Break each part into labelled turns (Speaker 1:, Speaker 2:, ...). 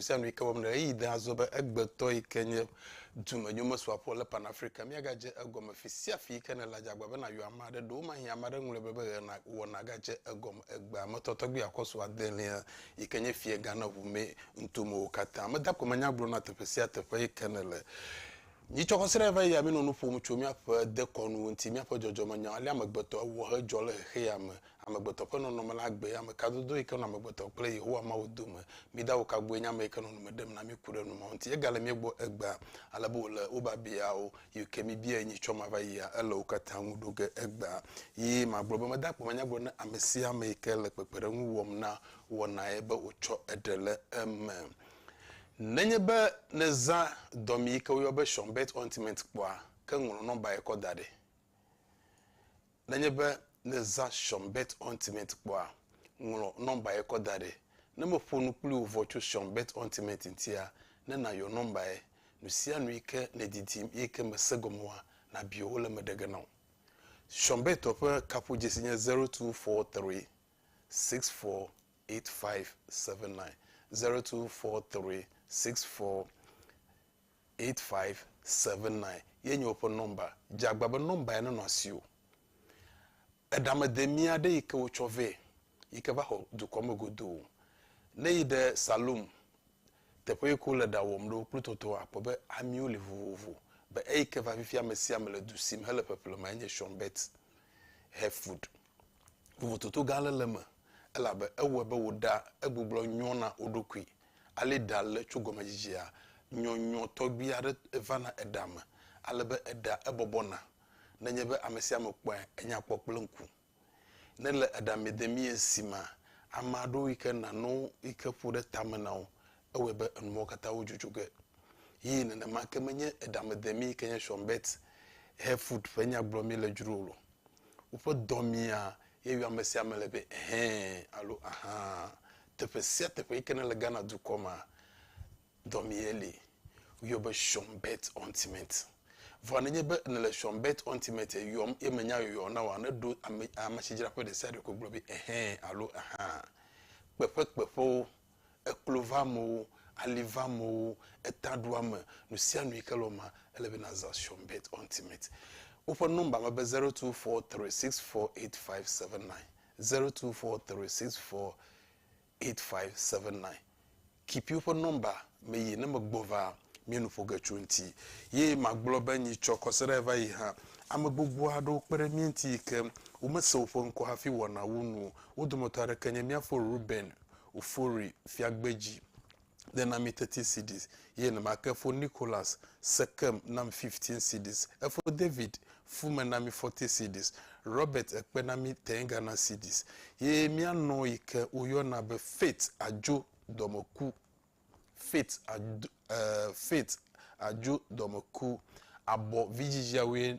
Speaker 1: Sia nu yi ke wɔm nèle. Ɣeyiɣi de azɔ be egbetɔ yi ke nye dumenyomesɔaƒo le Pan Africa míagadze egɔme fi sia fi yi ke nèle. Adze agbagba be nàyɔ ame aɖe. Ɖewomahĩ ame aɖe ŋlɔe be be ɣe na wɔ nàgadze egɔme egbea me tɔ tɔgbi akɔsu adelia yi ke nye fiegã na ʋu mɛ ŋutomewo katã. Meda kpeme nya gblɔm na teƒe sia teƒe yi ke nèle. Mitsɔ xɔseɖe va yi ya mínɔ nu ƒom tso míaƒe dekɔnuwo ŋuti, míaƒe dzɔdzɔmenyawo, alea amegbetɔ ewɔ hedzɔ le xexeame Amegbetɔ ƒe nɔnɔme la gbee ame ka dodo yi ke nɔ amegbetɔ kple Yehowa Mawu dome? Mida wo ka gbɔe nye ame yi ke nɔ nu me ɖem na mí ku ɖe nu ma ŋuti. Egale mía gbɔ egbea ale be wòle wo biabiawo yi ke míbiae nyi tsɔ mava yia, ele wo katã ŋu ɖo ge egbea. Yi magblɔ be meda akpe manya gblɔ na ame sia ame yi ke le kpekpeɖeŋu wɔm na wɔnaye be wòtsɔ eɖe le eme. Nenye be nèzã dɔmee yi ke woyɔa be Sean Burt Ointment kpɔa, ke ŋlɔ nɔmbae kɔ da ɖi. Nenye be nèzã Sean Bet Ointment kpɔa, ŋlɔ nɔmba ye kɔ da ɖi. Ne meƒo nu kpli wò vɔ tso Sean Bet Ointment ŋutia, ne nàyɔ nɔmba ye. Nusianu yi ke nèdidim eyi ke mèse gɔme oa, nàbia wo le eme ɖe ge na wò. Sean Bet-ɔ ƒe kaƒodzesi nye zero two four three six four eight five seven nine, zero two four three six four eight five seven nine ye nye woƒe nɔmba. Dze agbagba be nɔmba ya nenɔ asiwò. Eɖamedemia aɖe yi ke wotsɔ vɛ yi ke va xɔ dukɔ me godoo. Ne eyi ɖe salon teƒe yi ke wole ɖa wɔm ɖo kple tɔtɔa akpɔ be amiwo li vovovo. Be eyi ke va fifia ame sia ame le du si me hele ƒeƒle ma ye nye Shawn Bet Hair Food. Vovototo gã aɖe le eme elabe ewɔe be wò ɖa egbugbɔ nyɔ na wo ɖokui Ale ɖa le tso gɔmedzidzea, nyɔnyɔ tɔgbi aɖe va na eɖa me ale be eɖa ebɔbɔ na. Nenye be ame sia ame kpɔe enya kpɔ kple ŋku. Ne le eɖa me de mie si mea, ame aɖewo yi ke na no yi ke ƒo ɖe tame na wo ewɔe be enu mawo katã wo dzodzoe ge. Ye nenema ke menye eɖa me de mie yi ke nye Sean Bert Hayford ƒe nya gblɔ mí le dzro o. Woƒe dɔ mia ye yɔ ame sia ame le be ɛhɛɛ alo ahaa. Teƒe sia teƒe yike ne le Ghana dukɔ mea, dɔmee li. Woyɔ be Shon Bet Ultimate. Vɔa nenye be ne le Shon Bet Ultimate yɔm ye menya yɔyɔ na wòa, ne ɖo ame amesidzraƒe ɖe sia ɖe ko gblɔ be ehɛ alo aha. Kpeƒe kpeƒewo, eklo va amewo, ali va amewo, eta ɖo ame, nu sia nu yike le wo mea, ele be nàza Shon Bet Ultimate. Woƒe nɔmba me be zero two four three six four eight five seven nine. Zero two four three six four eight five seven nine Kipiwo ƒe nɔmba me yi ne megbɔ va mía nu ƒo ge tso ŋuti. Ye magblɔ be nyi tsɔ kɔseɖae va yi hã. Ame gbogbo aɖewo kpe ɖe mía ŋuti yi ke womese woƒe ŋkɔ hafi wɔnawo nu o. Wo dometɔ aɖeke nye mía fo Reuben Ofori Fiagbedzi. de na mi thirty cedis, ye nema ke fo Nicholas Sekem na mi fifteen cedis. Efo David fume na mi forty cedis, Robert ekpe na mi ten Ghana cedis. Ye mía nɔ yi ke woyɔna be Faith Adjo dɔmeku, Faith Adjo, eh, Faith Adjo dɔmeku, abɔ vidzidziawoe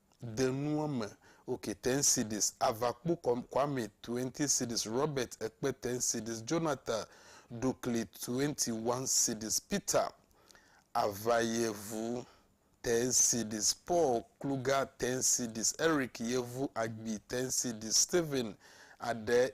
Speaker 1: de nua me ok ten cedis ava kpo kwame twenty cedis Robert ekpe ten cedis Jonathan ɖukli twenty one cedis Peter ava yevu ten cedis Paul kluga ten cedis Eric yevu agbi ten cedis Stephen aɖe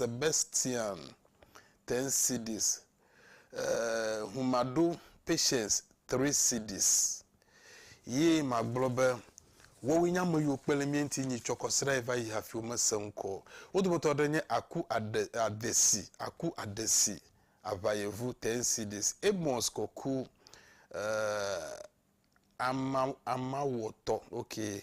Speaker 1: Sebastian Tensidis, ŋu maɖo Patience Trisidis, ye magblɔ be, Woawoe nye ame yiwo kpe ɖe mía ŋuti nyi tsɔ kɔ srae va yi hafi womese ŋkɔ o. Wo dometɔ aɖe nye Aku Ade, Adesi, Aku Adesi, aʋayevu Tensidis, Amos Koku, ee, ama, amawɔtɔ, okay.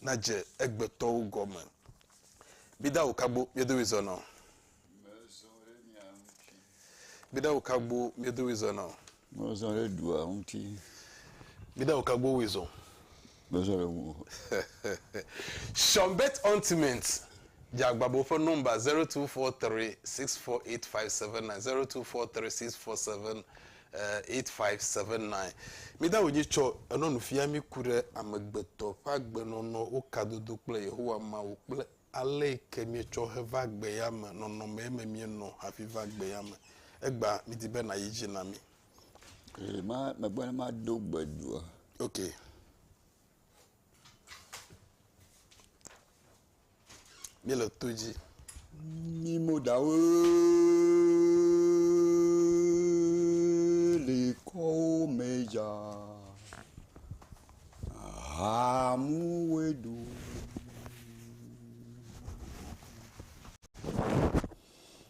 Speaker 1: nadze egbetɔwo gɔme. Mida wo kagbo miedowi zɔnɔ. Mezɔ ɖe mia ŋuti. Mida wo kagbo miedowi zɔnɔ. Mezɔ ɖe dua
Speaker 2: ŋuti. Mida wo
Speaker 1: kagbo wi zɔ. Mezɔ ɖe
Speaker 2: ŋu. Shonbet
Speaker 1: Ontiment dze agbagba woƒe nɔmba 0243648579, 02436479. Eight five seven nine Mida wò dzi tsɔ enɔ nu fia mí ku ɖe amegbetɔ ƒe agbenɔnɔ, wo kadodo kple Yehowa Mawu kple ale yi ke míetsɔ heva gbea me nɔnɔmee me míenɔ hafi va gbea me. Egbea mídi be nàyi edzi na mí. Ɣe ma
Speaker 2: megbe ne mado gbe doa? Ok.
Speaker 1: Míele to dzi. Mí
Speaker 2: mo ɖawo le kɔwo me dza. Hamu we do.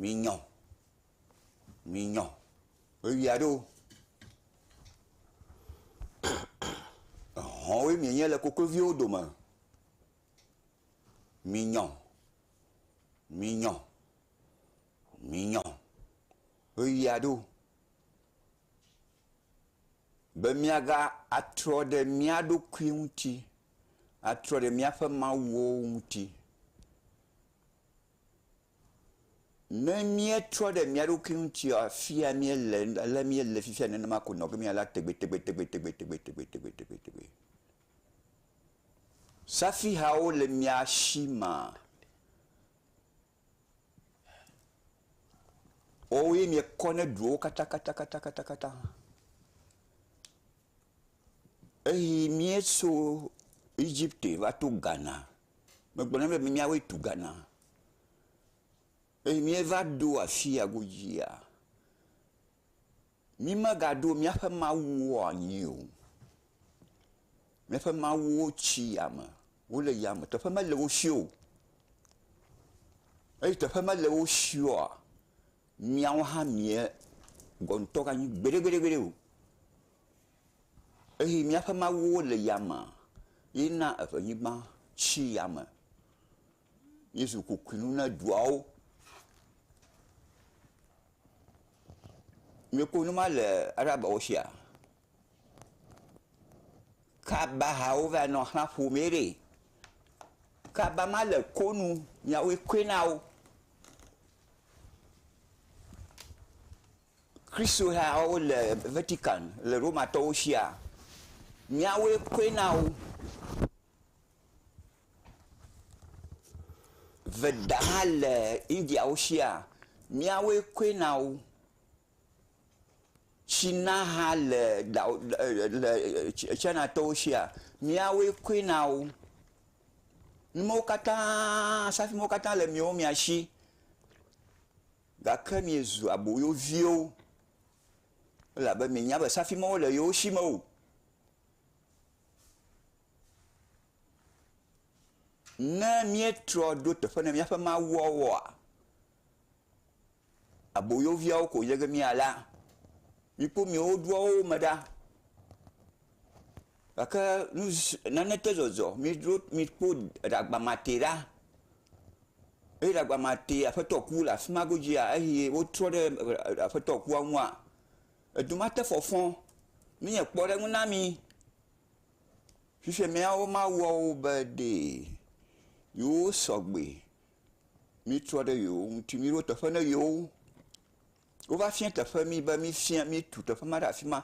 Speaker 2: Minyɔ, minyɔ, ɣeyiɣia ɖo. Ehɔ̃woe mienye le kokloviwo dome. Minyɔ, minyɔ, minyɔ, ɣeyiɣia ɖo. Be míaga atrɔ ɖe mía ɖokui ŋuti, atrɔ ɖe míaƒe mawuwo ŋuti. Ne míetrɔ ɖe mía ɖokui ŋuti afi ya míele, ale míele fifia nenema ko nɔ ge mía la tegbetegbetegbetegbetegbetegbetegbetegbetegbe. Safihawo le mía si maa, woawo ye míekɔ ne duwo katãkatãkatãkatã. Eyi míeso Egypte va to Ghana Megblɔ na be míawoe tu Ghana. Eye míeva ɖo afi ya godzia, mímegaɖo míaƒe mawuwo anyi o. Míaƒe mawuwo tsi yame, wole yame, teƒe mele wo si o. Eye teƒe mele wo si oa, míawo hã míegɔ̃ ŋutɔ ganyi gbeɖegbeɖegbeɖe o. Eye míaƒe mawuwo le yamea, yena eƒe anyigba tsi yame. Míezu kokoewo na duawo. Míekpɔ nu ma le Arabawo sia. Kabahawo va nɔ xlã ƒomee ɖee. Kaba ma le ko nu, miawoe koe na wo. Kristohawo le Vatican le Romatɔwo sia, míawoe kɔe na wo. Veda hã le Indiawo sia, míawoe kɔe na wo. Tsina hã le Lao e le Chinatɔwo sia, míawoe kɔe na wo. Numawo katã, safui mawo katã le miwo mia si. Gake miezu aboyoviwo, elabe mienya be safi mawo le yewo si me o. Ne míetrɔ ɖo teƒe na míaƒe mawuawoa, aboyoviawo ko nye ge míalé. Mikpɔ mia ɖokuiwo me ɖa. Gake naneke zɔzɔ miɖo mikpɔ ɖagbamatɛ ɖa eye ɖagbamatɛ aƒetɔ ku le afima godzia eye wotrɔ ɖe aƒetɔ kua ŋua edu mate fɔfɔ nye kpɔɖeŋu na mi. Fifia miawo mawuawo be ɖe yewo sɔgbe mitrɔ ɖe yewo ŋuti miɖo teƒe ne yewo. wova fia teƒe mi be mifia mitu teƒe ma ɖe afi ma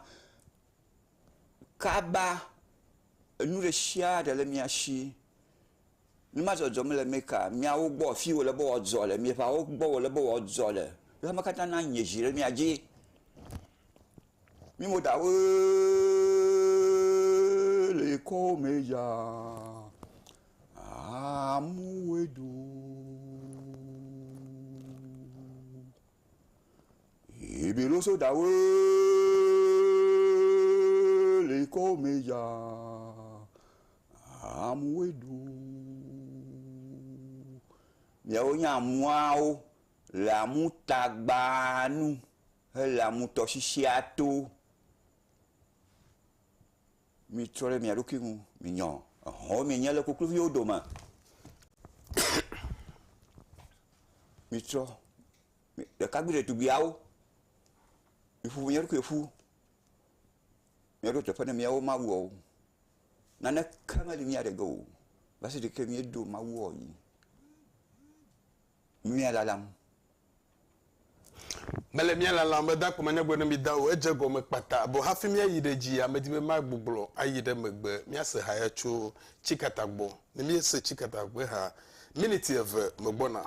Speaker 2: kaba enu ɖe sia ɖe le mia si. Nu ma dzɔdzɔm le Meka miawo gbɔ afi wòle be wòadzɔ le mia ƒeawo gbɔ wòle be wòadzɔ le. Eya me katã na nye dzi ɖe mia dzi. Mi mo dawo le kɔ me ya amuwe do. Ebe lo so da we le kɔ me ya amu we du. Miawo nye amuawo le amu tagba nu hele amu tɔsisia to. Mitrɔ ɖe mia ɖokui ŋu, minyɔ, ehɔ̃wo mienye le kokloviwo dome. Mitrɔ, ɖekakpui ɖetugbuiawo, miƒu mia ɖokui ƒu, miaɖo teƒe ne miawo mawuawo. Naneke meli mia ɖe ge o, va se ɖeke miedo mawuawo yi. mia lalam.
Speaker 1: Mele mia lalam be dakpɔ manyagblɔ ne mi da o, edze egɔme kpata be hafi mia yi ɖe dzi ya medi be ma gbuglɔ ayi ɖe megbe. Mia se ha ya tso tsikata gbɔ, ne mie se tsikata ƒe ha, miniti eve me gbɔna.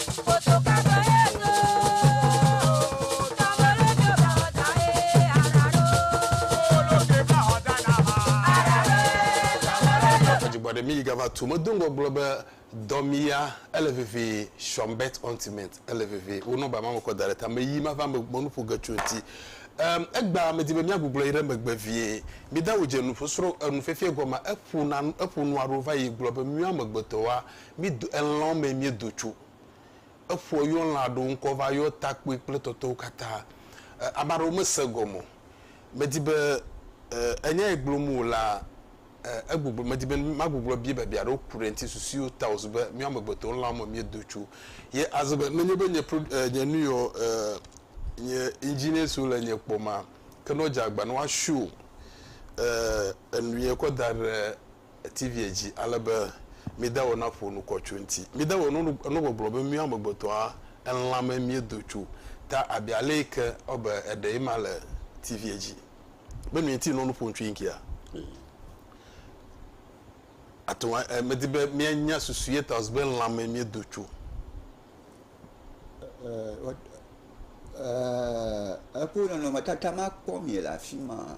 Speaker 1: Adzigbɔɖi mi yi gava tu me do ŋgɔ gblɔ be dɔ mi ya ele vivi shɔmbet ɔntiment ele vivi wo nɔba ma me kɔ da ɖe ta me yi ma va me me nuƒo ge tso ŋuti um, egba me di be mi agugblɔ yi ɖe megbe vie mi da wo dze nuƒo sro enu fefie gɔma eƒo na eƒo nua ɖo va yi gblɔ be mi amegbetɔ wa Mído elãwo me míedo tso. Eƒoa yɔ lã aɖewo ŋkɔ va yɔ takpoe kple tɔtɔwo katã. Ame aɖewo mese egɔme o. Medi be enya ye gblɔm o la, egbɔgblɔ, medi be magblɔgblɔ biae biabiã aɖewo ku ɖe eŋuti, susuiwo ta wòzu be míawo amegbetɔwo elãwo me míedo tso. Ye aze be nenye be nye pro, nye nu yeɔ, nye engineer siwo le nye kpɔ ma, ke ne wodze agba ne woashow enu ye kɔ da ɖe TVa dzi ale be mide wò naƒo nu kɔ tso eŋuti. Mide wò nugbɔgblɔ be míawo amegbetɔa elãme míedo tso ta abe alee ke wɔ be eɖee ma le TVa dzi. Be mi ŋuti nɔ nu ƒom tso eŋutia? Ate ŋu, medi be míanya susu ye ta wòzu be lãme míedo tso.
Speaker 2: Eƒe nɔnɔmetata ma kpɔ mi le afima.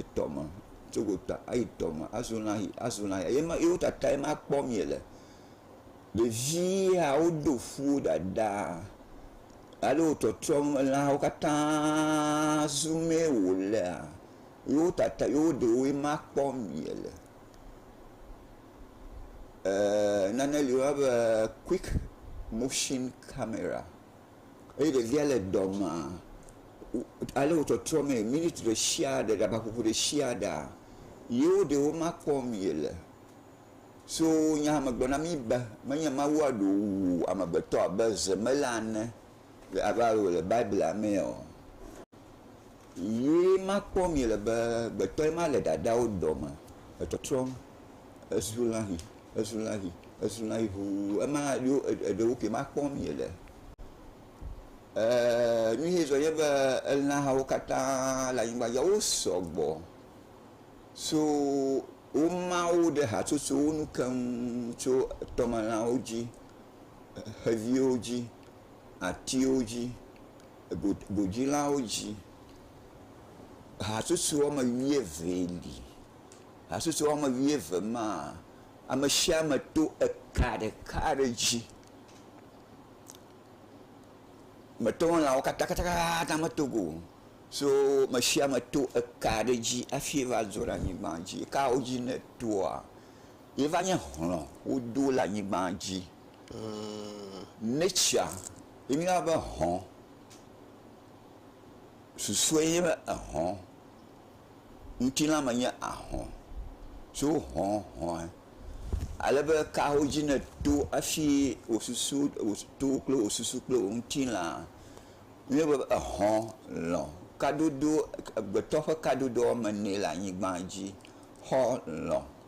Speaker 2: etɔ me tso gota ayi tɔ me azɔ lã yi azɔ lã yi eye ma yewo tatae ma kpɔm yele. Ɖevi ya woɖo fu wo ɖaɖa ale wo trɔtrɔm elãwo katã zu mee wo lea yewo tata yewo ɖewoe ma kpɔm yele. E nane li woyɔna be quick motsin camera. eye ɖevia le dɔme ale wo trɔtrɔ mee miniti ɖe sia ɖe ɖabaƒoƒo ɖe sia ɖa yewo ɖewo ma kpɔm yele so nya me gblɔ na mi be menye Mawua ɖe wowu amegbetɔ abe zemela ene abe ale wòle Biblia mee o. Ye makpɔ mi le be gbetɔe ma le dadawo dɔ me etɔtrɔm, ezu lãhi, ezu lãhi, ezu lãhi ʋuu, ema ɖo eɖewoke makpɔ mi le. E, nu ye zɔ nye be elãhawo katã le anyigba dzi wo sɔgbɔ so wo mawo ɖe hatsotsowo nu keŋ tso tɔmelãwo dzi, xeviwo dzi, atiwo dzi, go godzilawo dzi. Hatsotso woame wuievee li. Hatsotso woame wuieve maa, ame sia ame to eka ɖeka aɖe dzi. Mete ŋu lã wo katã katã meto go o. So ame sia ame to eka aɖe dzi hafi va dzo ɖe anyigba dzi. Eka wo dzi nètoa. Yeva nye hlɔ̃ wodo le anyigba dzi. Nature ye mi yɔna be hlɔ̃. Susue ye nye hlɔ̃. Ŋutilã me nye ahlɔ̃. So hlɔ̃ hlɔ̃ ye. Ale be ka wo dzi ne to hafi wo susu to kple wo susu kple wo ŋutilã. Mi yɔna be hlɔ̃ lɔ̃. Kadodo agbetɔ ƒe kadodo wɔme ene le anyigba dzi. Xɔ lɔ̃.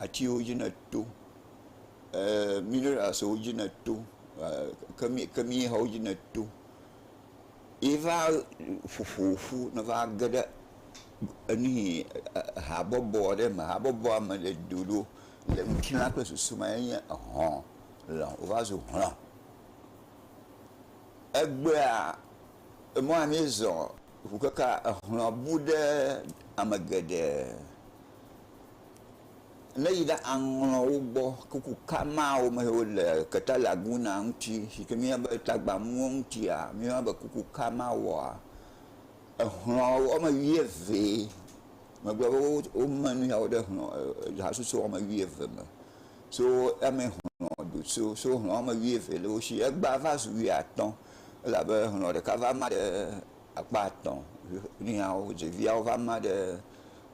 Speaker 2: atiwo dzi ne to, eer mineralswo dzi ne to, kemi kemixɔwo dzi ne to ye va ƒoƒo ƒu ne va ge ɖe enuihi habɔbɔ aɖe me. Habɔbɔa me le doɖo le ŋutilã ƒe susu me enye ehɔ̃ le wova zu hɔ̃. Egbea emɔa mizɔ ŋu keke ehɔ̃a bu ɖe ame geɖe. ne yi ɖe aŋlɔ wo gbɔ kuku ka mawo me wole keta laguna ŋuti si ke mía be tagbamuwo ŋutia mía be kuku ka ma wɔa exlɔ wɔme wuieve megbe be wome nu yawo ɖe xlɔ hasusu wɔme wuieve me so eme xlɔ do so so xlɔ wɔme wuieve le wo si egba va zu wuiatɔ̃ elabe xlɔ ɖeka va ma ɖe akpa etɔ̃ nuyawo ɖeviawo va ma ɖe.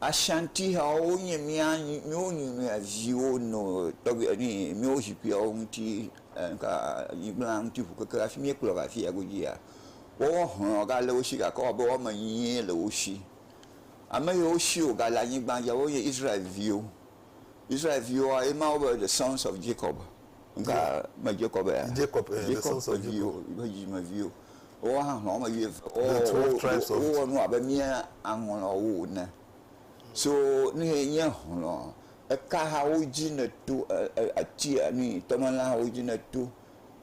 Speaker 2: Ashantihawo wonye mía míwo nyi mía viwo nɔ tɔgbi eni míwo zikpuiawo ŋuti ŋka nyigblã ŋuti ŋu keke hafi míekplɔ va afiya godzia woawo hlɔ gale wo si gake ewɔ abe woame enyie le wo si. Ame yiwo si wogale anyigba dzia wonye Israel viwo. Israel viwoa, ye Mawu be the sons of Jacob. Ŋka me Jacob ya? Jacob, eh, the Jacob sons
Speaker 1: ƒe of viwo, Jacob. ƒe dzidzimeviwo.
Speaker 2: Woawo hã hlɔ̃ wɔme wuieve. Wo- The 12 wo- tribes
Speaker 1: wo- of- Wowɔ nu abe mía
Speaker 2: aŋlɔwo ene. So nu ye nye hlɔ̃. Eka hawo dzi nèto, e- e- ati enu yi, tɔmelã hawo dzi nèto,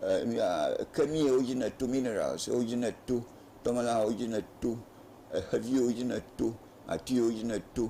Speaker 2: e, nu ya, eke nu yiwo dzi nèto, minerals wo dzi nèto, tɔmelã hawo dzi nèto, exeviwo dzi nèto, ati yiwo dzi nèto,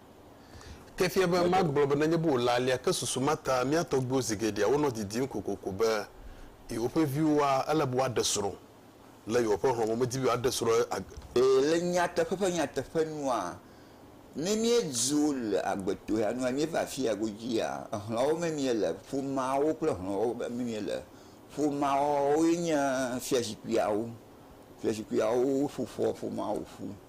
Speaker 1: Ke fia be magblɔ be nenye be wòle alea ke susu ma ta mía tɔgbuiwo zi geɖea wonɔ didim kokoko be yewoƒe viwoa, ele be woaɖe srɔ̃ le yewoƒe hlɔ̃ me. Womedi be yewoaɖe srɔ̃ ag. Ɛɛ, le
Speaker 2: nyateƒe ƒe nyateƒe nua, ne míedzo le agbetoea nua míeva afia godzia, hlɔ̃wo me míele, ƒomeawo kple hlɔ̃wo me míele. Ƒomeawoe nye fiazikpuiawo. Fiazikpuiawo ƒo ƒoa ƒomeawo ƒu.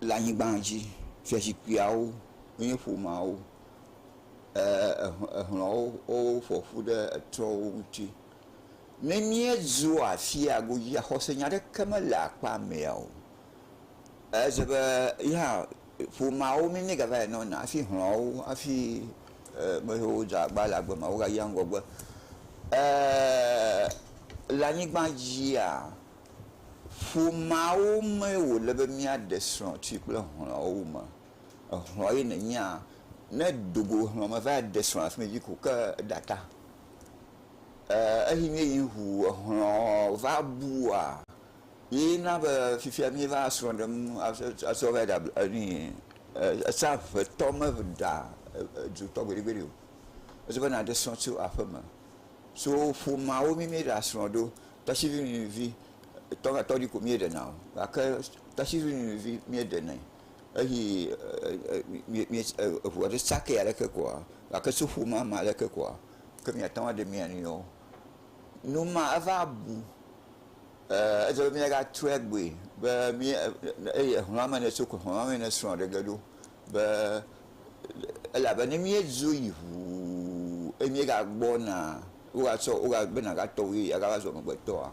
Speaker 2: le anyigba dzi. Fiazikpuiawo nye ƒomeawo. Eer ehlɔ̃wo woƒo ƒu ɖe etrɔ̃wo ŋuti. Ne míedzo afia godzia, xɔsenya aɖeke mele akpa mɛa o. Ele se be yehã ƒomeawo mi míegava yi nɔna hafi hlɔ̃wo hafi eer me yiwo dze agbagba le agbe mea wogayia ŋgɔgbe. Eer le anyigba dzia. Ƒomeawo mee wòle be míaɖe srɔ̃ tsoe kple hlɔ̃wo wu me. Ehlɔ̃ ye nènyea? Ne èdo go hlɔ̃ me va ɖe srɔ̃ le afi ma dzi ko ke eɖe ata. Ee, eyi míeyi ŋu ehlɔ̃ va bua ye na be fifia míeva srɔ̃ ɖem atsɔ va yi ɖe enuie. Etsã ŋetɔ meɖea dzotɔ gbeɖegbeɖe o. Edi be nàɖe srɔ̃ tso aƒeme. So ƒomeawo mí míeɖea srɔ̃ ɖo. Tasivi nyɔnuvi tɔ va tɔɖi ko mie ɖena o gake tasivi nyɔnuvi mie ɖenɛ eyi mie eʋu aɖe sake aleke koa gake soƒo ma ma aleke koa ke mia teŋu aɖe mia nɔewo. Nu ma eva bu e edze be mia ga trɔe gbɔe be mie eye exlɔa me ne tso ko exlɔa me ne srɔ̃ ɖe ge ɖo. be elabe ne míedzo yi ŋuu eye míegagbɔna wogatsɔ woga be nàgatɔ wu eye agava zu amegbetɔa,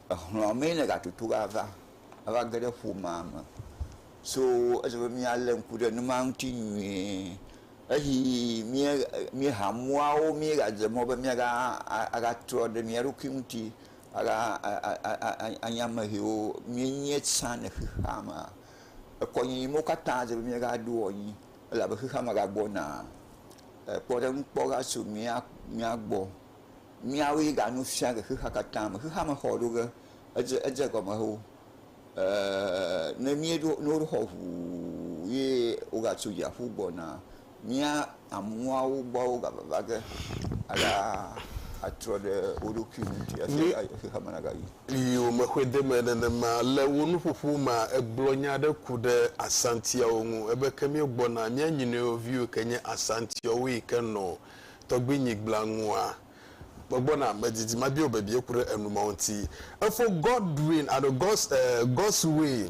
Speaker 2: exlɔ̃a mee nègatutu ava ava ge ɖe ƒomea me. So edze be míalé ŋku ɖe numa ŋuti nyuie. Eyi míe míeha muawo míegadze mɔ be míaga a agatrɔ ɖe mía ɖokui ŋuti aga a a a anye ame siwo míenye tsã le xexeamea. ekɔ nyi mɔ katã si dzi míagaɖoa anyi elabe xexea me gagbɔna. Kpɔɖeŋukpɔha so mía mía gbɔ. Míawoe ga nu fia le xexea katã me. Xexea me xɔ ɖo ge edze edze gɔme wu e ne míeɖo ne woɖo xɔ ŋuu ye wogatso dziaƒo gbɔna. Mía amuawo gbɔ wogavava ge alea atrɔ ɖe wo ɖokui ŋu ŋuti hafi ava yi xexea me nagayi. Yio mexɔedeme
Speaker 1: nenema. Le wò nuƒoƒo mea, ègblɔ nya aɖe ku ɖe Asantiawo ŋu. Ebe ke míegbɔna, mía nyinɔewo viwo ke nye Asantiawo yi ke nɔ tɔgbuinyigblẽa ŋua? Megbɔna, medidi mabia wò bebie ku ɖe enu mawo ŋuti. Efo Godwin alo Gos, eh, Goswin.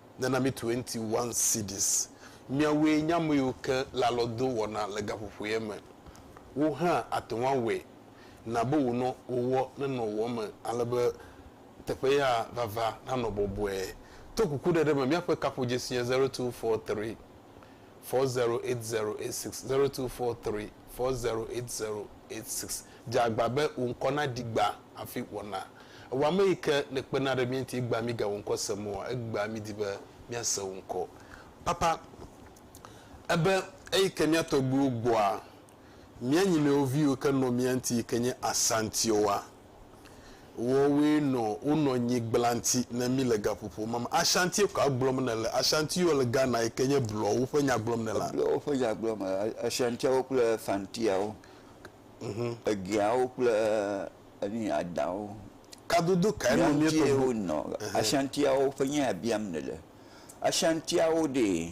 Speaker 1: Nana mi twenty one cedis. Miawoe nye ameyiwo ke le alɔdo wɔna le gaƒoƒoea me. Wò hã àte ŋu awɔe. Na be wò nɔwowɔ nenɔ wò me ale be teƒe ya vava nanɔ bɔbɔe. To kukuɖeɖe me míaƒe kaƒodzesi nye zero two four three. four zero eight zero eight six zero two four three four zero eight zero eight six. Dze agba be wò ŋkɔ naɖi gba hafi wɔna. Ewa ame yi ke nèkpena ɖe mía ŋuti egbea míga wò ŋkɔ sem oa, egbea mídi be míase wò ŋkɔ. Papa, ebe eyi ke mía tɔgbuiwo gbɔa, mía nyinɔewo viwo ke nɔ mía ŋti yi ke nye Asantioa. Woawoe nɔ wonɔ nyi gblanti ne mí le gaƒoƒo ma me. Ashantie kɔa gblɔm nèle. Ashantiwo le Ghana yi ke nye Blɔwo ƒe nyagblɔmela. Blɔwo ƒe nyagblɔmela.
Speaker 2: Ashantiawo kple Fantiawo. Egeawo kple enu yi Adawo. Kadodo
Speaker 1: kae nɔ mía tɔgbuiwo. Mía ŋtie wonɔ Ashantiawo
Speaker 2: ƒe nya ya biam nèle. Ashantiawo ɖee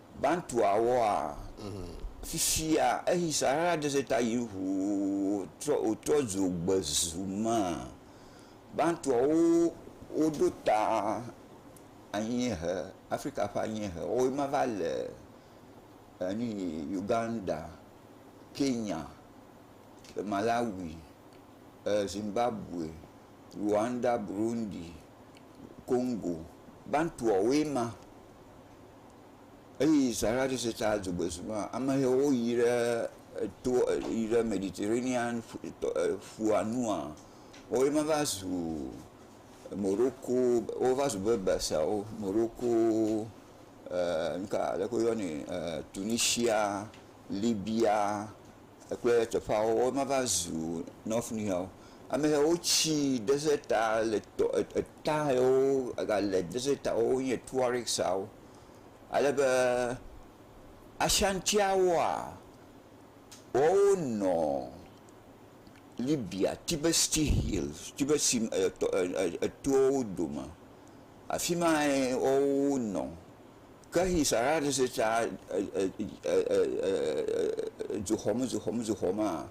Speaker 2: Bantuawoa, fifia eyi Sahara Dɛsɛta yi ŋu wòtrɔ wòtrɔ zu gbe zu mea, Bantuawo woɖo ta anyiehe, Afrika ƒe anyiehe. Woawo ma va le enu yi Uganda, Kenya, Malawi, Zimbabwe, Rwanda, Burundi, Kongo. Bantuawoe ma. Eyi Sahara Desertia dzogbesi nua, amehewo yi ɖe eto yi ɖe Mediterranean tɔ e ƒua nua, woe ma va zu Moroko wova zu Berberswo, Moroko e nuka aleke woyɔnɛ e Tunisia, Libya. Ekple teƒeawo wova va zu north nuyɔwo amɛwo wo tsi desert ta le tɔ eta yiwo ega le desert ta wo nye tuariksawo ale be asiantiawoa wɔwo nɔ libya tibesti hill tibesti etɔwo dome afima wɔwo nɔ Ke hi Sara ɖe se tsa dzoxɔmedzoxɔmedzoxɔmea,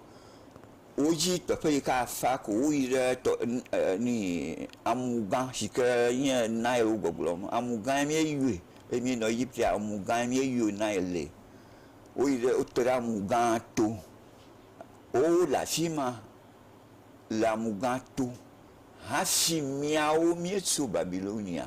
Speaker 2: wodzi teƒe yi ke afa ko woyi ɖe tɔ ni amugã si ke nye Nile wo gbɔgblɔ me. Amugãe míeyɔe eye míenɔ Egiptea amugãe míeyɔ Nile. Woyi ɖe wote ɖe amugã to. Wowo le afi ma le amugã to hafi míawo míetso Babilonia.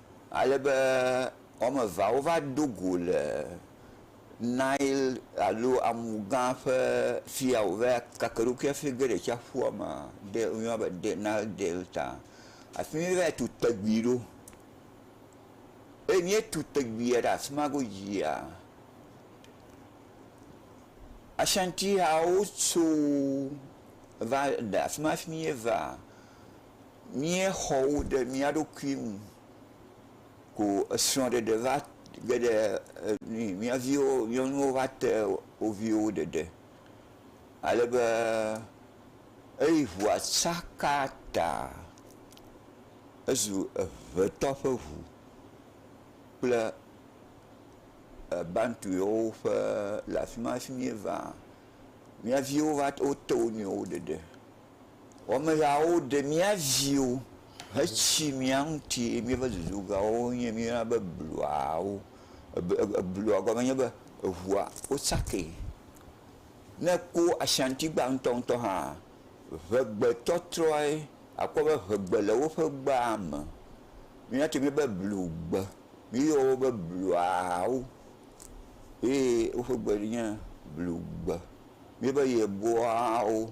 Speaker 2: Ale be wɔme evea wova do go le Nail alo amu gã ƒe fia wòva keke eɖokui hafi ge ɖe tsiaƒua me ɖe woyɔna be ɖe Nail Delta. Afi ma míeva tu tegui ɖo. Eye míetu teguia ɖe afi ma godzia, Ashanti hawo tso va le afi ma hafi míeva míexɔ wo ɖe mía ɖokui ŋu ko esrɔ̃ɖeɖe va ge ɖe nui mía viwo nyɔnuwo va te wo viwo ɖeɖe ale be eyi ŋua tsaka ta ezu eŋetɔ ƒe ŋu kple bantu yewo ƒe le afi ma le fi mí va mía viwo va te wo nɔewo ɖeɖe. Wɔmehawo ɖe mía viwo hetsi mía ŋuti eye míeƒe dudugawo nye míeyɔna be bluawo. Blua gɔme nye be eŋua wotsakee. Ne ekpɔ Ashantigba ŋutɔŋutɔ hã ŋegbetɔtrɔe akpɔ be ŋegbe le woƒe gbea me. Míawo tse míebe blugbe. Míeyɔ wo be bluawo eye woƒe gbe nye blugbe. Míebe yeboawo.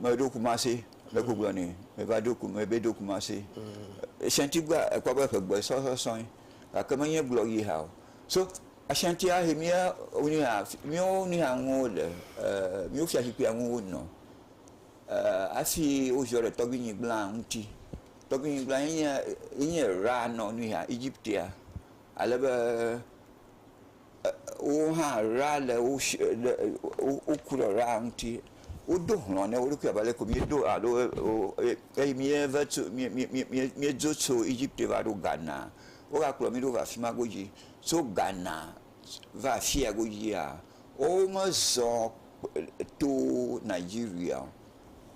Speaker 2: Meɖo Kumasi le Google ni meva ɖo ku mebe ɖo Kumasi. Ashanti gba ekpɔ be ƒegbe sɔsɔ sɔe gake menye gblɔ yi hã o. So Ashanti ahe mía nuya míawo nuya ŋuwo le e míawo fiazikpuia ŋu wonɔ e hafi woziɔ ɖe tɔgbuinyigblẽa ŋuti. Tɔgbuinyigblẽa ye nye ye nye Ra nɔ nuya Egiptea ale be wo hã ɣla le wo si le woku ɖe ɣla ŋuti. Wodo hlɔ̃ na wo ɖokui abe ale si míedo alo eye míeva tso mí mí mí míedzo tso Egipte va ɖo Ghana. Wogakplɔ mí ɖo va afi ma godzi. Tso Ghana va afi ya godzia, womezɔ to Nigeria o.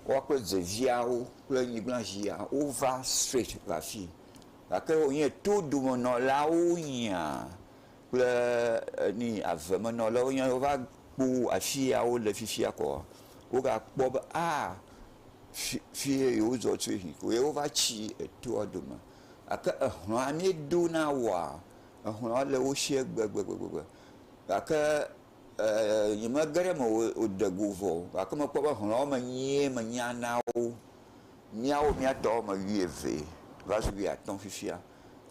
Speaker 2: Woawo kple deviawo kple nyigblazia wova straight va afii. Gake wonye todomenɔlawo wonyea, kple ni avemenɔlawo nye wova kpɔ afi ya wole fifia koa, wogakpɔ be aa fi ye yewozɔ tso yi ko ye wova tsi etoa dome. Gake ehlɔ̃a ne do na woa, ehlɔ̃a le wo sie gbegbegbegbe. Gake ee nyemege ɖe eme o de go vɔ o gake mekpɔ be hlɔ̃a me nyuie menya na wo. Míawo mía tɔwo me wuievee va zu wuiatɔ̃ fifia.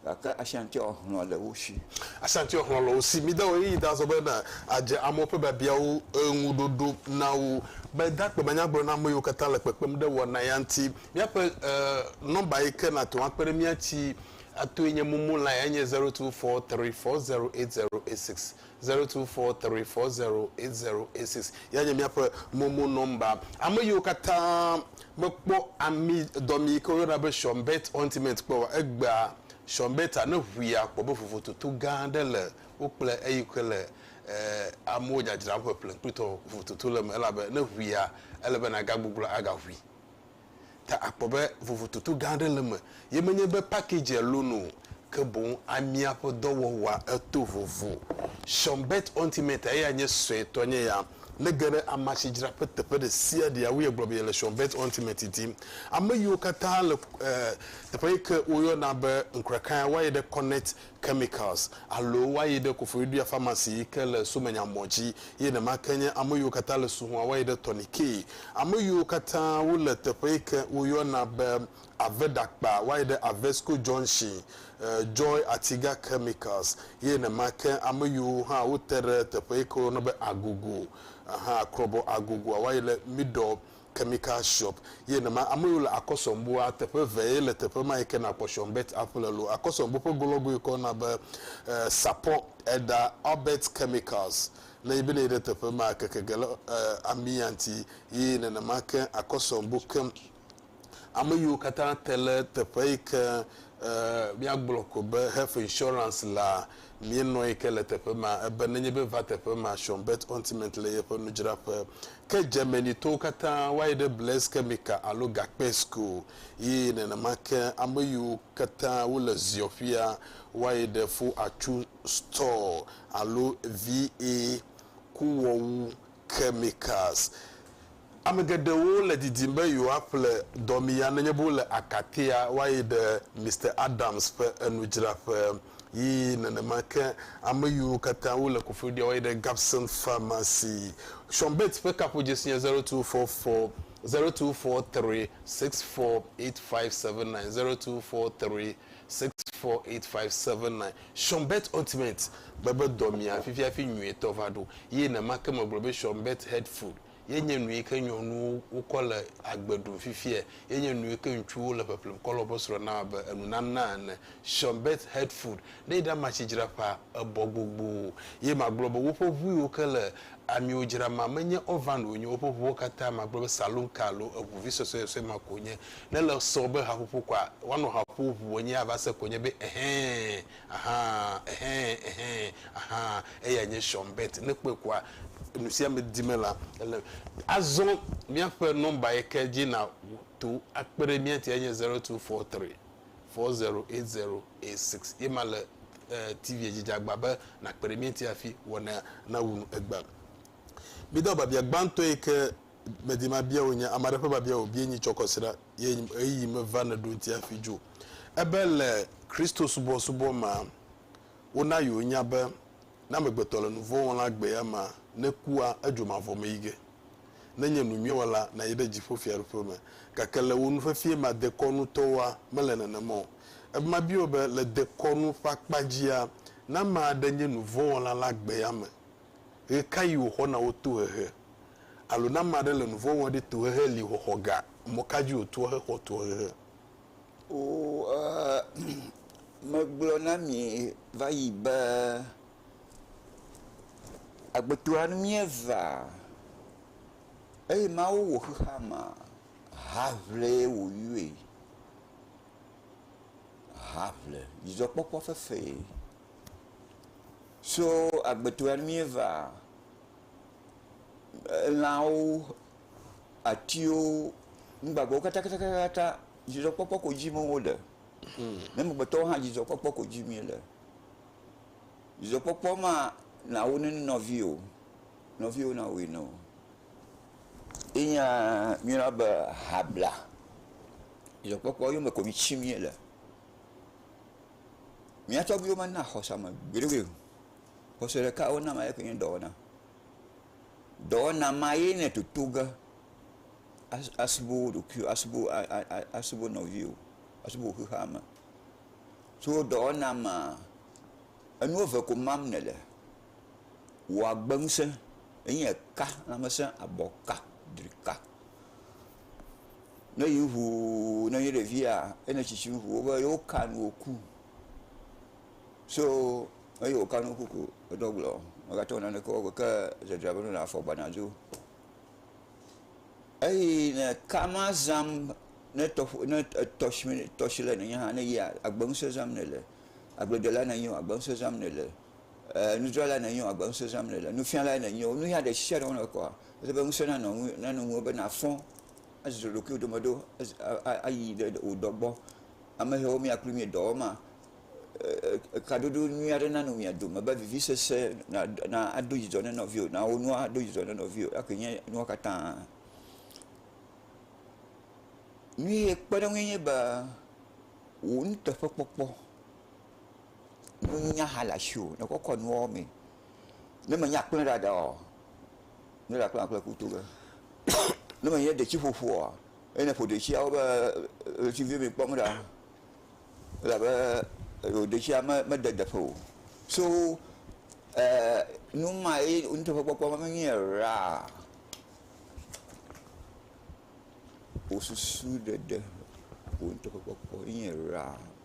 Speaker 2: Gake Ashanti ɔ hlɔ̃ le wo shi. Ashanti ɔ hlɔ̃ le wo
Speaker 1: shi. Mi da ɣeyiɣi da zɔ be na a dze amewo ƒe biabiawo ŋu ɖoɖo na wo. Be da kpe be nya gblɔ na ame yiwo katã le kpekpem ɖe wɔna ya ŋuti. Miaƒe e nɔmba yi ke na te ŋu akpe ɖe mía tsi a toe nye momo line enye zero two four three four zero eight zero eight six. Zero two four three four zero eight zero eight six ya nye míaƒe momo nɔmba. Ame yiwo katã mekpɔ ami dɔmi yi ke woyɔna be Schönberg Ointment kpɔ oa, egbea Schönberg ta ne ŋui akpɔ be vovototo gã aɖe le wo kple eyi ke le e amewo dzadzram ƒeƒle kplitɔ vovototo le eme elabe ne ŋuia ele be nagagbugblɔ agaŋui. ta akpɔ be vovototo gã aɖe le eme, ye menye be packagea lolo o, ke boŋ amia ƒe dɔwɔwɔa eto vovo. Sean Burt Ultimate, eya nye suetɔ nye ya. Ne ge ɖe amasidzraƒe teƒe ɖe sia ɖea wo yegblɔ be yele Sean Burt Ultimate dim. Ame yiwo katã le teƒe yike woyɔna be Nkrakaia, woayi ɖe Connect chemicals, alo woayi ɖe Koforidua Pharmacy yi ke le Somenya mɔ dzi, ye nema ke nye ame yiwo katã le Suhua woayi ɖe Tɔnikee. Ame yiwo katã wole teƒe yi ke woyɔna be Avedakpa woayi ɖe Avesco Junction, Joy Atiga Chemicals, ye nema ke ame yiwo hã wote ɖe teƒe yi ke woyɔna be Agogo, Akrɔbɔ Agogoa woayi ɖe Middle Chemical Shop ye nema ame yiwo le Akɔsɔnboa teƒe vee le teƒe ma yi ke nàkpɔ Shonbet aƒle lo. Akɔsɔnbo ƒe golɔgo yi ke woyɔna be Sapɔ Eda Albert Chemicals ne yi be ne yi ɖe teƒe maa keke ge le ami ya ŋuti ye nenema ke Akɔsɔnbo ke ame yiwo katã te le teƒe yi ke míagblɔ ko be Health Insurance lea Míenɔe ke le teƒe ma. Ebe nenye be va teƒe ma, Sean Bert Ontimeant le yeƒe nudzraƒe. Ke Germany-tɔwo katã va yi ɖe Blaise Chemical alo Gakpe School. Ye nenema ke ame yiwo katã wole Ziɔƒia va yi ɖe Fo Achu Store alo VA. Kuwɔwu Chemicals. Ame geɖewo le didim be yewoaƒle dɔmiya nenye be wole akatea woayi ɖe Mister Adams ƒe enudzraƒe yi nenema ke ame yiwo katã wole kofoeɖia woayi ɖe Gabson Pharmacy. Sean Bates ƒe kaƒodzesi nye zero two four four, zero two four three six four eight five seven nine, zero two four three six four eight five seven nine. Sean Bates Ointment bebe dɔmiya fifi hafi nyuietɔ va ɖo. Yi nenema ke megblɔ be Sean Bates Head Food. Ye nye nu yi ke nyɔnuwo wokɔ le agbe ɖum fifia. Ye nye nu yi ke ŋutsuwo le ƒeƒlem kɔ le woƒe srɔ̃ nam abe enunana ene. Sean Beth Hertford, ne yi ɖe amatsi dzra ƒea, ebɔ gbogboo. Ye magblɔ be woƒe ʋu yiwo ke le amiwo dzra ma, menye oven o wonye o. Woƒe ʋuwo katã, magblɔ be saloon car alo eŋu vi sɔsɔesɔe ma ko wonye. Ne ele sɔ be haƒoƒo koa, woanɔ ha ƒom ŋu wonye ava se ko wonye be, Ɛhɛɛ! Ahaa, ɛhɛ, ɛhɛ, ahaa, eyae nye Sean Bett. Ne èkpɔe kɔa, nusiame di me la, ele. Azɔ míaƒe nɔmba yi ke dzi nàto akpe ɖe mía ŋuti enye zero two four three, four zero eight zero eight six. Ye ma le TV-a dzi. Dze agba be nàkpe ɖe mía ŋuti hafi wɔnaa nawu nu egbea. Mida biabia gbãtɔ yi ke medi mabia wò nye, Ame aɖe ƒe biabia wòbie nyi tsɔ kɔsiɖa. ye ɣeyiɣi meva ne ɖo ŋuti hafi dzo. Ebe le Kristosubɔsubɔ mea, wona yewo nya be ne amegbetɔ le nuvɔ̃ wɔm la gbe ya ma nekua edzo mavɔ me yi ge. Ne nye nu nyuiwɔ la, nayi ɖe dziƒo fiaɖuƒe me. Gake le wò nufefie mea dekɔnu tɔwoa, mele nenema o. Ebe mabia wò be le dekɔnu ƒe akpa dzia, ne ame aɖe nye nuvɔ̃wɔla la gbe ya me, Ɣekaɣi wòxɔna wo tohehe? Alo ne ame aɖe le nu vɔ̃ wɔm ɖi, tohehe li xɔxɔ ga. Mɔkadzi wòtoa hexɔ tohehe? Oo,
Speaker 2: megblɔ na mi va yi be, agbetoa nu míevea, eye Mawu wɔ xexeamea, haʋlee wòyɔe, haʋle, dzidzɔkpɔkpɔ fefee. Tso agbetɔa míeva lãwo, atiwo, nugbagbewo katakatakata, dzidzɔkpɔkpɔ ko dim wole. Mi amegbetɔwo hã dzidzɔkpɔkpɔ ko dim miele. Dzidzɔkpɔkpɔ ma nawo ne nɔviwò, nɔviwò nawɔe ne wò. Ye nya míeyɔna be habla. Dzidzɔkpɔkpɔ yɔme ko ŋuti miele. Mía tɔgbuiwo mena xɔse ame gbeɖegbeɖe o. Xɔse ɖeka si wona ame ye nye dɔwɔna. Dɔwɔna ma ye nèle toto ge asubɔ wò ɖokuiwò, asubɔ nɔviwò, asubɔ xexeame. Tso dɔwɔna ma, enu eve ko mam nèle, wò agbe ŋusẽ enye eka, lãmesẽ, abɔ ka, dri ka. Ne yi ŋuu ne nye ɖevia ene tsitsi ŋu wobe yewo ka nu woku. So eyi woka nu woku ko edɔ gblɔ mega te wɔ naneke wɔ gbe ke dzedzra be nɔnɔ afɔ gbana dzo. Eyi ne ka ma zam ne tɔƒo ne tɔsime tɔsime ne nye hã ne yia agbe ŋuse zam ne le agbledela ne nyi o agbe ŋuse zam ne le. e, nudzralae nènye o, agbe ŋusẽ zãm nèle, nufialae nènye o, nuya ɖe sia ɖe wɔna wò kɔa, ele be ŋusẽ nanɔ ŋu, nanɔ ŋuwò be nàfɔ azuzu ɖokuiwò dome ɖo az- a- a- ayi ɖe wò dɔ gbɔ. Ame hɛwo mía kloe míedɔ wɔm maa, e, e, kadodo nyui aɖe nanɔ mia dome be vivisese na, na ado dzidzɔ ne nɔviwò, na wò nua ado dzidzɔ ne nɔviwò. Eya koe nye nua katã. Nyuie kpeɖeŋue nye be wò nuteƒekpɔkpɔ. Nunya hã le asiwò ne kɔ kɔ nuwo me. Ne me nya kple ɖaɖa ɔ, ne ɖa kple akple kuto ge. Ne me nye detsi ƒoƒo ɔ, ne ne ƒo detsia wo be ɣleti vi me kpɔm ɖa. Elabe ewɔ detsia me me de deƒe o. So eer numa ye nuteƒe kpɔkpɔ me me nyea ra o susu ɖeɖe o nuteƒe kpɔkpɔ ye nye ra.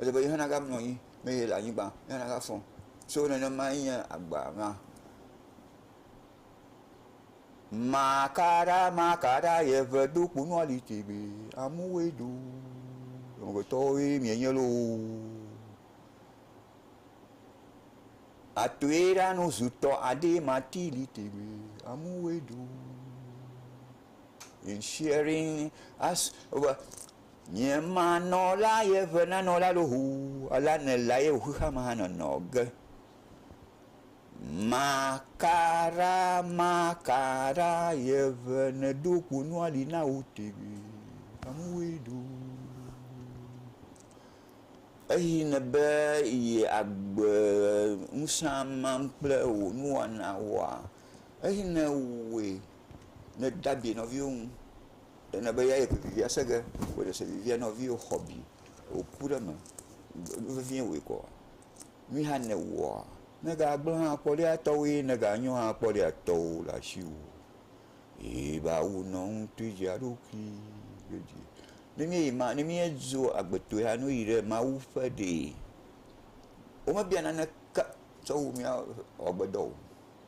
Speaker 2: Ele be ye hã nava mlɔ anyi ne yele anyigba, ye hã nava fɔ. So nenemae nye agba ma. Makaɖa makaɖa ye ŋe do kponua li tegbee. Amewoe do. Amegbetɔwoe mienye loo. Atoe ɖa nu zutɔ aɖee mati li tegbee. Amewoe do. In sharing as Nye ma nɔ la ye ve na nɔ la lo hu la ne la ye hu xama ha nɔ nɔ ge. Ma ka ra ma ka ra ye ve ne do ku nua li na wu tegi amu we do. Eyi ne be yi agbe nusa mam kple wo nua na wa eyi ne we ne da bi nɔ viwo ŋu. Ena be eyae ƒe vivia se ge. Wò dze se vivia na nɔviwò xɔ abi. Wò ku ɖe eme. Nu vevie wɔe kɔ. Nui hã ne ewɔa, ne ga gblẽ hã kpɔ ɖia, etɔwò ye. Ne ga nyo hã kpɔ ɖia, etɔwò le asiwò. Ye ba wu nɔ ŋuti dzi eɖokui godzi. Ne mi yi ma, ne mi edzo agbetɔe hã, ne woyi ɖe Mawu ƒe ɖee, wome bia naneke tsɔ wu mia ɔ agbedɔ o.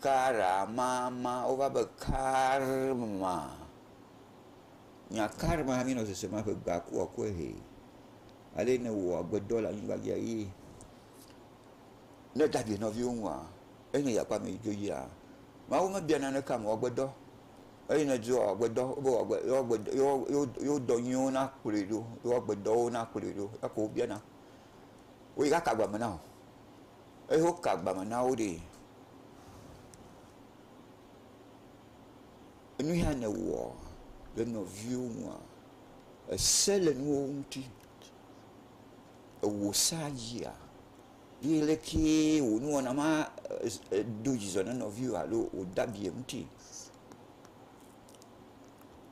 Speaker 2: Kara ma ma wova be karma. Nya karma mi nɔ sese ma ƒe gba ku wa kɔe hɛ. Ale ne wɔ agbedɔ le anyigba dzi ayi. Ne dadi nɔviwo ŋu a ene ya kpa me dzo yi a. Ma wo me bia na ne kam wɔ agbedɔ. Eye ne dzo wɔ agbedɔ wo wɔ agbe yo agbe yo yo yo dɔ nyi wo na kplɔe ɖo. Yo agbe dɔ wo na kplɔe ɖo. Eko bia na. Wo yi ka ka gba me na o. Eye woka agba me na wo ɖi. Nu ya nèwɔ ɖe nɔviwò ŋua, èse le nuwo ŋuti. Ewò sea dzia? Ye lekee wò nuwɔna ma do dzidzɔ na nɔviwò alo wòda abi eŋuti?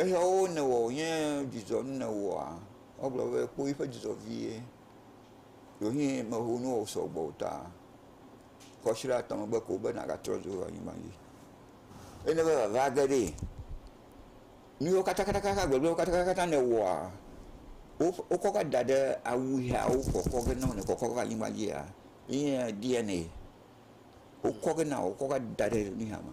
Speaker 2: Eyawo nèwɔ wònye dzidzɔ nu nèwɔa? Egblɔ be, Kpoyi ƒe dzidzɔ vie. Ɖewohĩ meho nu wɔ wòsɔ gbɔ o ta ƒe ashiɖe atɔ̃ megbe ko be nàgatrɔ dzo va anyigba dzi. Eye ne eva vava age ɖee, nu yiwo katakataka, gbegblẽwo katakata nèwɔa, wokɔ va da ɖe awu yawo kɔkɔ ge na wò nèkɔkɔ va anyigba dzia, enye DNA wokɔ ge na wò, wokɔ va da ɖe nuya me.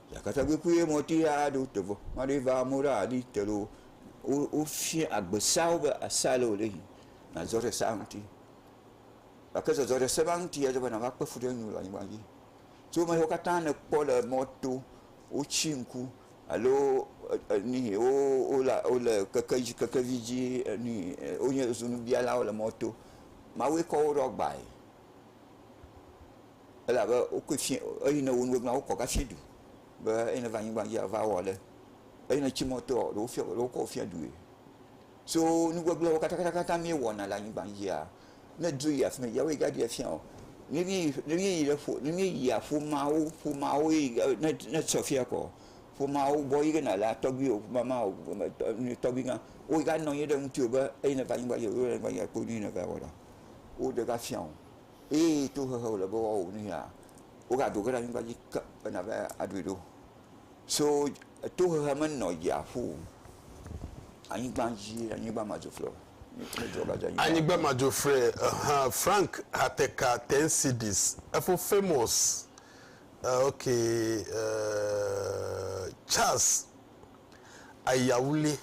Speaker 2: Yakata kpekpe ye mɔti ya ɖo tevɔ maɖe va amewo ɖe aɖi te ɖo wofia agbe seawo be ese ale wòle yi nàzɔ ɖe sea ŋuti gake zɔzɔ ɖe se ma ŋuti edze be nàva kpe fu ɖe eŋu le anyigba dzi so ame siwo katã nèkpɔ le mɔto wotsi ŋku alo nihi wo wole wole keke dzi kekevi dzi ni wonye zunubialawo le mɔto mawue kɔ wo ɖɔ gbae elabe wokɔe fiẽ, eyi ne wo nu wegblẽa, wokɔ gafiẽ du be eyi ne va anyigba dzia, va wɔ ale, eyi ne tsi mɔ tɔa, ɖe wofiɔ, ɖe wokɔ fiẽ dui. So nu gbegblẽwo katãkatãkatã míewɔna le anyigba dzia, ne dro yi afi mɛ dzia, woyi ge aɖee fiã o. Ne míeyi, ne míeyi ɖe ƒo, ne míeyia ƒomeawo, ƒomeawo yi ge ne, ne sɔ fiã kɔ, ƒomeawo gbɔ yi ge nàle a, tɔgbui o, mama o, tɔgbuigã, wo ganɔ anyi ɖe ŋutiwò be eyi ne va anyigba dzi o, wole anyigba dzi o, kpɔ nu yi ne va wɔ ɖa. Woɖe gafiã o. eye tohehe wòle be woawɔ nu yia, wogado ge ɖe anyigba dzi ke be nàva aɖui ɖo. So tohehe menɔ dziaƒo o, anyigba dzie, anyigba ma dzo frɛ o.
Speaker 1: Anyigba ma dzo frɛ, hã, Frank Hateka Tensidis, efo famous, eh, ok, eh, Charles Ayawule,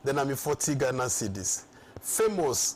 Speaker 1: dena mi 40 Ghana cedis, famous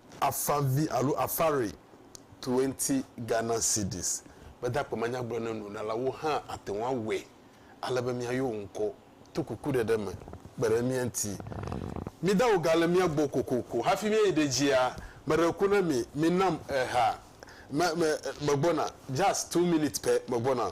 Speaker 1: Afavi alo Afari, Twenty Ghana Cedis, Gbadagbe manyagblɔ ne nuɖalawo hã ate ŋu awɔe ale be míayɔ wò ŋkɔ to kukuɖeɖe me. Kpe ɖe mía ŋuti. Mida wò ga le mía gbɔ kokoko hafi míayi ɖe dzia. Meɖe ku na mi, minam eha. Me, me, megbɔna. Just two minutes pɛ, megbɔna.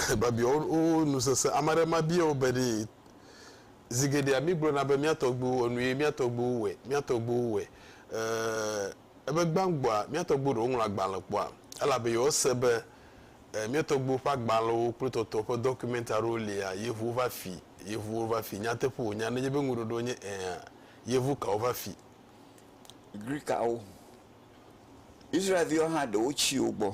Speaker 1: Babia wo nu sese. Ame aɖe ma bia wo be ɖe zi geɖea mi gblɔna be mía tɔgbuiwo wɔ nuye mía tɔgbuiwo wɔe, mía tɔgbuiwo wɔe. E, ebe gbãgbɔa mía tɔgbuiwo ɖewo ŋlɔ agbalẽ kpɔa? Elabe yewo se be e, mía tɔgbuiwo ƒe agbalẽwo kple tɔtɔ ƒe dɔkument aɖewo lia, yevuwo va fi, yevuwo va fi. Nyateƒe wònya nenye be ŋuɖoɖoa nye ɛ̃a, yevu kawo va fi?
Speaker 2: Grikawo. Israel viwo hã ɖewo tsi wo gbɔ.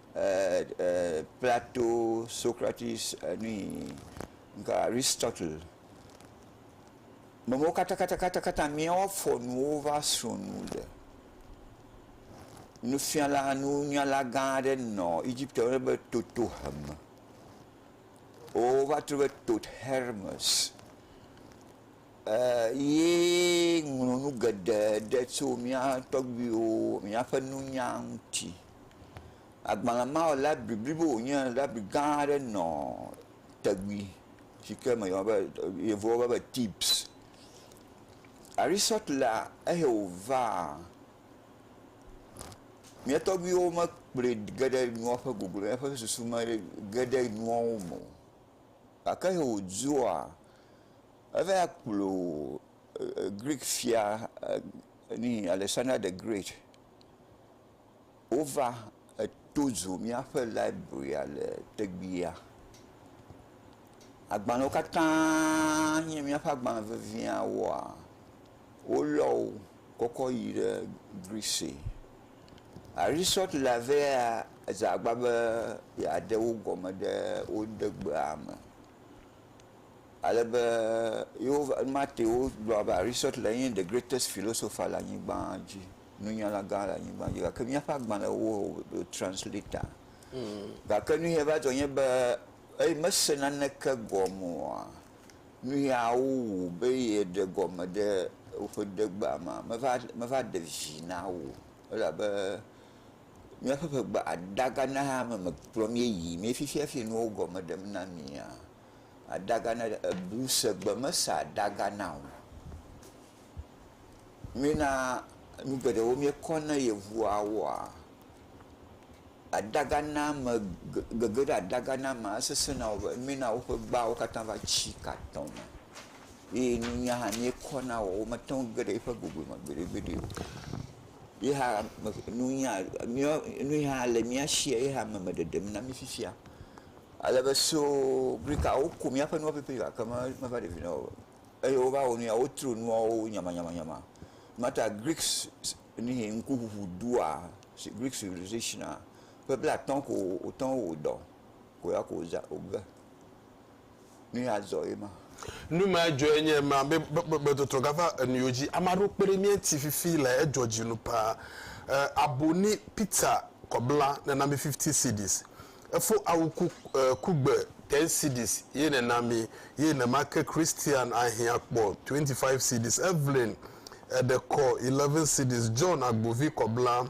Speaker 2: Plato, Socrates, Aristotle, mewo katã míawo fɔ nuwo va srɔ nu le. Nufiala, nunyala gã aɖe nɔ Egipte woyɔna be Totohem. Wova trɔ be Tot Hermes. Eye ŋlɔ nu geɖe ɖe tso mía tɔgbuiwo, míaƒe nunya ŋuti. Agbalẽ ma wɔ labiri blibo wònye, labiri gã aɖe nɔ tegui si ke me yɔna be, Yevuwo yɔna be tips. Aristɔtelea, eyae wòvaa, mía tɔgbuiwo mekplɔe ge ɖe nuawo ƒe gogo me, eƒe susu mege ɖe nuawo me o. Gake eyae wòdzoa, Eva ya kplɔ Greek fia Alexander the Great wova to dzo míaƒe librarya le tegbea. Agbalẽwo katã nye míaƒe agbalẽ veviawoa, wolɔ wo kɔ kɔ yi ɖe Greece. Arisot le ave ya dze agbagba be yeaɖe wo gɔme ɖe wo degbea me. Ale be Yehowa, Mateo gblɔa be Aristotle nye the greatest philosopher le anyigba dzi, nunyala gã le anyigba dzi, gake míaƒe agbalẽwo o translatea. Hmm. Gake nu ye va dzɔ nye be eye mese naneke gɔme oa, nu yawo wu be yeɖe gɔme ɖe woƒe ɖegbea me meva meva ɖe vi na wo elabe míaƒe ƒegbe adagana mekplɔ míeyi mie fifiafi nuwo gɔme ɖem na mia. Adagana ebu segbe mesa adagana o. Mína nu geɖewo míekɔ na yevuawoa? Adagana me gege ɖe adagana mea sesẽ na wo be mína woƒe gbawo katã va tsi ka tɔme eye nunya hã míekɔ na wo womete ŋu geɖe eƒe gome me gbeɖegbeɖe o. Ye hã nunya míawo nu yi hã le mía si ye hã me me ɖeɖem na mí fifia. Ale be so brika woku míaƒe nuwo pɛpɛpɛ gake meva ɖe vi na wo o. Eye wova wɔ nu ya wotro nuawo nyamanyamanyama. Mata Greeks nihi ŋkuŋuŋu ɖua, Greek civilization a, ƒe blaatɔ̃ ko wòtɔ̃ wɔ dɔ ko ya ko wòza wòge. Nu ya dzɔ ye ma. Nu ma ya
Speaker 1: dzɔe nye ema be gbɔgbɔgbɔdɔdɔ gava enuiwo dzi. Ame aɖewo kpe ɖe mía ŋuti fifi le edzɔ dzi nu paa. E, abo ni pizza kɔbla nena mi fifty cedis. Efo awu ku, e, kugbe ten cedis ye nena mi. Ye nema ke Christian ahiã kpɔ twenty five cedis. Evelyn, eɖe kɔ eleven cedis. John, agbovi kɔbla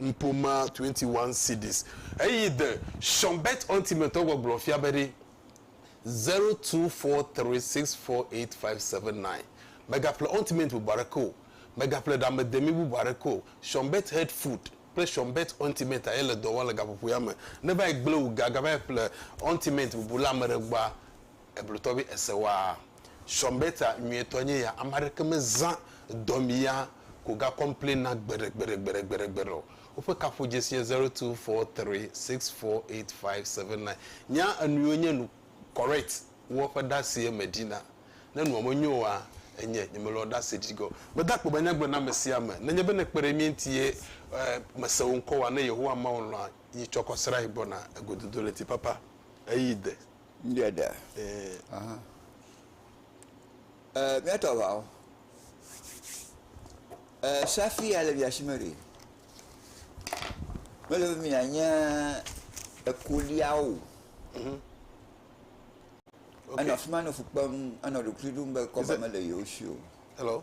Speaker 1: Nuƒomea 21 Cedis. Eyi The Schonberg's Ultimate gbɔgblɔ fia be ɖi, 0243648579. Mègaƒle Ultimate bubu aɖeke o. Mègaƒle ɖamedemi bubu aɖeke o. Schonberg's Health Food kple Schonberg's Ultimate aye le dɔ wɔm le gaƒoƒo ya me. Ne va yi gblẽ wò ge agava yi ƒle Ultimate bubu le ame ɖe gbɔa, eblotɔvi ese waa. Sɔmbeta nyuietɔ nye ya ame aɖeke me zã dɔmi ya ko ga complain na gbeɖe gbeɖe gbeɖe gbeɖe gbeɖe o. Woƒe kaƒo dzesi nye zero two four three six four eight five seven nine. Nya enuiwo nye nu correct woa ƒe ɖasie me ɖi na. Ne nua me nyo oa enye nye me lɔ ɖase ɖi gɔ. Meda akpe be nya gblɔ na ame sia ame. Nenye be ne kpe ɖe mía ŋuti ye mese wò ŋkɔ oa ne Yehowa Mawu lɔa yi tsɔkɔ srae gbɔna egododo ɣleti papa eyi de. Ŋɖe ɖe.
Speaker 2: Ee. Aha. Ɛɛ míatɔ aʋawo. Ɛɛ safi ya le mia si me ɖe. Mele be mianye ekoliawo. Mhm. Okay. Enɔ afi ma nɔ fu kpem, enɔ ɖokuiɖom be kɔva mele yewo si o. Hello.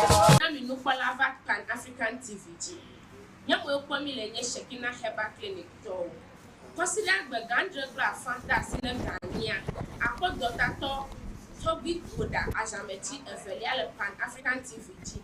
Speaker 3: Na mi nukpɔla va Pan African TV dzi. Nye mue kpɔ mi le nye Shekinah Herbal Clinic tɔwo. Kɔsiɖa gbe gã adre kple afã de asi ne gã nyia. Akpɔ dɔtatɔ tɔgbi Goda azãmeti evelia le Pan African TV dzi.